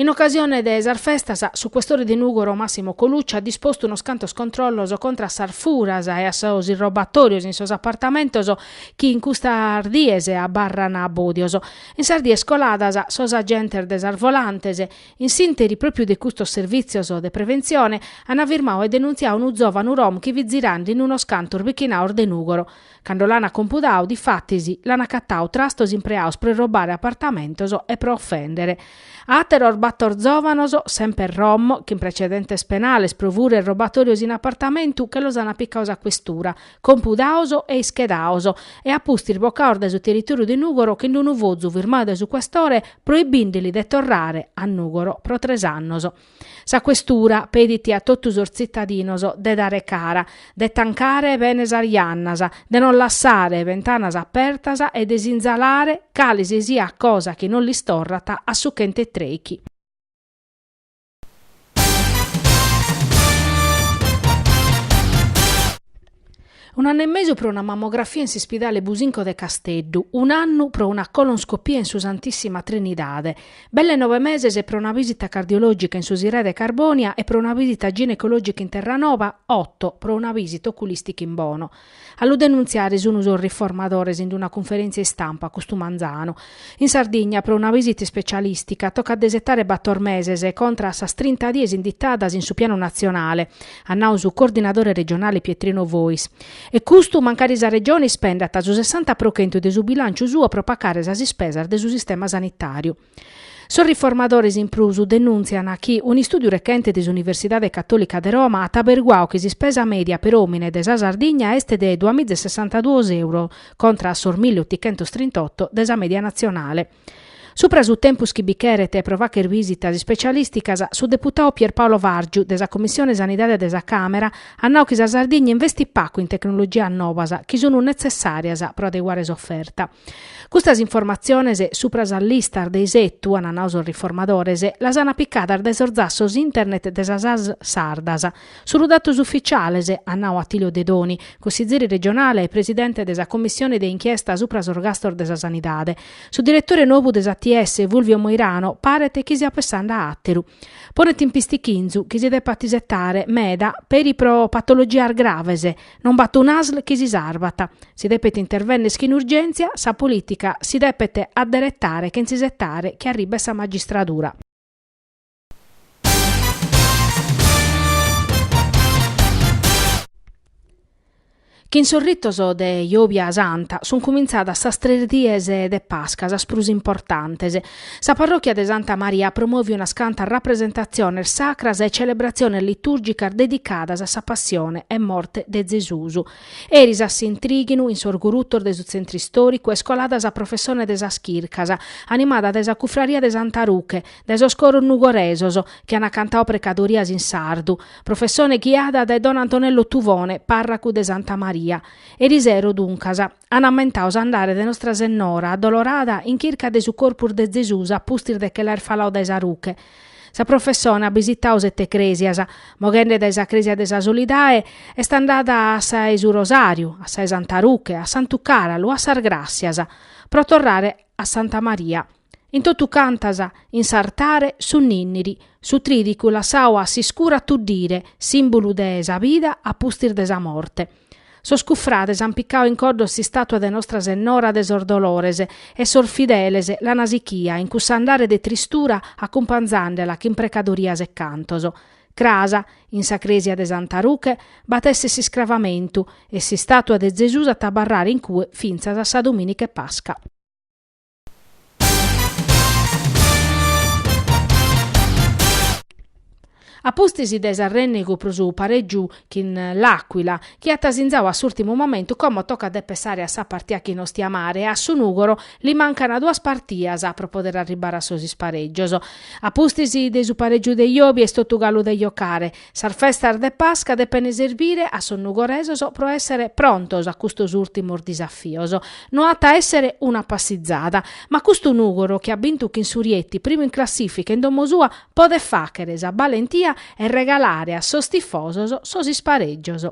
In ocasione de sas festas, su questore de Nùgoro Massimo Colucci at dispostu unos cantos controllos contra a sas furas e a sos irrobatòrios in sos apartamentos chi in custas dies abarran bòdios. In sas dies coladas, sos agentes de sas volantes, in s'ìnteri pròpiu de custos servìtzios de preventzione, ant firmau e denuntziau unu zòvanu rom chi fit zirande in unos cantos bichinaos de Nùgoro. Cando l'ana compudau, difatis, l'ana acatau trastos impreaos pro irrobare apartamentos e pro ofendere. Ateros bator zovanos, semper rom, chin precedentes penales pro fura e irrobatorios in apartamentu che los ana picaos a questura, compudaos e ischedaos, e a pustis bocaos dae su territoriu de Nugoro chin d'unu fozu firmau dae su questore proibindeli de torrare a Nugoro pro tres annos. Sa questura pedit a totu sos tzitadinos de dare cara, de tancare bene sas jannas, de non lassare bentanas apertas e de sinzalare cale si siat cosa chi non lis torrat a su chent'e trèichi. Un'annu e mesu pro una mammografia in s'ispidale Businco de Casteddu, un'annu pro una colonscopia in su Santissima Trinidade, belle nove meses pro una visita cardiologica in su Sirai de Carbonia e pro una visita ginecologica in Terranova, otto pro una visita oculistica in Bono. A lu denuntziare sun sos riformadores in una cunferèntzia istampa custu manzanu, In Sardigna, pro una visita ispecialistica, tocat de isetare bator meses, contra a sas trinta dies inditadas in su pianu natzionale, at nau su coordinadore regionale Pietrino Fois. E custu mancari sa Regione ispendat su sessanta pro chentu de su bilànciu suo pro pacare sas ispesas de su sistema sanitàriu. Sos riformadores in prus denùntzian chi un'istùdiu rechente de s'Universidade Catòlica de Roma at aberguau chi s'ispesa mèdia per òmine de sa Sardigna est de duamiza e sessantaduos euros contra a sos milli otichentos trint'oto de sa mèdia natzionale. Supra su tempus chi bi cheret pro facher visitas ispecialìsticas, su deputau Pierpaolo Vargiu de sa Commissione Sanidade de sa Càmera at nau chi sa Sardigna investit pacu in tecnologias novas chi sunt netzessàrias pro adeguare s'oferta. Custas informatziones supra sas listas de isetu, ant nau sos riformadores, las ant picadas dae sos zassos internet de sas ASL sardas, Sun datos ufficiales, at nau Attilio Dedoni, cussizeri regionale e presidente de sa commissione de inchiesta supra sos gastos de sa sanidade. Su diretore nobu de s'ATS, Fulvio Moirano, paret chi siat pessande a àteru. Ponet in pistichinzu chi si depat isetare meda peri pro patologias graves, non b'at un'ASL chi si sarvat. Si depet intervennere chin urgèntzia, sa polìtica si depet adderetare chentza isetare chi arribet sa magistradura. Chin sos ritos de Jòbia Santa sunt cumintzadas sas tres dies de Pasca, sas prus importantes. Sa parròchia de Santa Maria at promòviu unas cantas rapresentatziones sacras e celebratziones litùrgicas dedicadas a sa passione e morte de Zesus. Eris a s'intrighinu, in sos gurutos de su Tzentru Istòricu, est colada sa professone de sas chircas, animada dae sa cufraria de Santa Ruche, dae sos coros nugoresos chi ant cantadu precadorias in sardu, professone ghiada dae don Antonello Tuvone, pàrracu de Santa Maria. Erisero, duncas, an ammentadu s'andare de Nostra Sennora Addolorada in chirca de su corpus de Zesùs a pustis de che l'aer faladu dae sa ruche. Sa professone at bisitadu sete crèsias, moghende dae sa crèsia de sa Solidae est andada a sa 'e su Rosàriu, a sa 'e Santa Ruche, a Santu Càralu, a sas Gràssias, pro torrare a Santa Maria. In totu cantas, in s'artare, su ninniri, su tridicu lassau a s'iscura a tuddire, simbulu de sa bida a pustis de sa morte. Sos cufrades an picau in coddos s'istatua de Nostra Sennora de sos Dolores e sos fideles l'ana sichia in cuss'andare de tristura acumpanzandela chin precadorias e cantos. Cras, in sa cresia de Santa Ruche, b'at esser s'iscravamentu e s'istatua de Zesus at abarrare in cue fintzas a sa Dominica 'e Pasca. A pustis de s'arrènnegu pro su parègiu chin l'Àquila, chi at sinzadu a s'ùrtimu momentu, como tocat de pessare a sa partia chin Ostiamare e a su Nùgoro li mancant duas partias pro podere arribare a sos isparègios. A pustis de su parègiu de jòbia est totu galu de jocare. Sas festas de Pasca depent serbire a sos nugoresos pro èssere prontos a custos ùrtimos disafios. No at a èssere una passizada, ma custu Nùgoro chi at bintu chin su Rieti primu in classìfica in domo sua podet fàghere sa balentia e regalare a sos tifosos sos isparègios.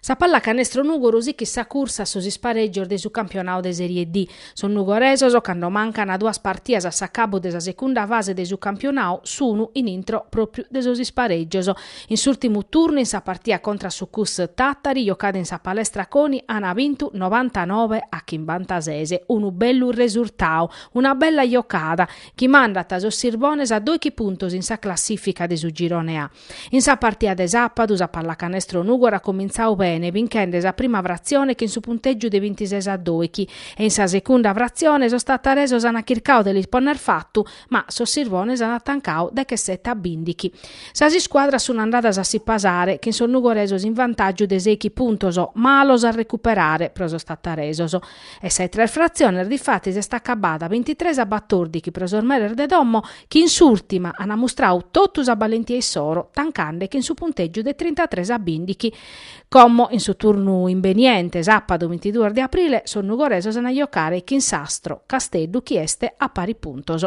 Sa pallacanestro Nùgoro sichit sa cursa a sos isparègios de su campionadu de Sèrie D. Sos nugoresos, cando mancant duas partidas a s'acabu de sa segunda fase de su campionadu, sun in intro pròpiu de sos isparègios. In s'ùrtimu turnu, in sa partia contra a su Cus Tàtari, jocada in sa Palestra Coni, ant bintu novantanove a chimbantases. Unu bellu resurtadu, una bella jocada, chi mandat sos Sirbones a doighi puntos in sa classìfica de su Girone A. In sa partida de sàpadu sa Pallacanestro Nùgoro at comintzadu bene binchende sa prima fratzione chin su puntègiu de bintises a doighi e in sa segunda fratzione sos tataresos ant chircadu de lis ponner fatu ma sos Sirbones ant tancadu dechesete a bìndighi. Sas iscuadras sunt andadas a si pasare chin sos nugoresos in vantàgiu de seighi puntos malos a recuperare pro sos tataresos. E sa 'e tres fratzione difatis est acabada bintitrès a batòrdighi pro sos meres de domo chi in s'ùrtima an amustradu totu sa balentia issoro tancande chin su puntègiu de trintatrès a bìndighi. Como in su turnu imbeniente, sàpadu bintiduos de aprile, sos nugoresos an a jocare chin s'Astro Casteddu chi est a paris puntos.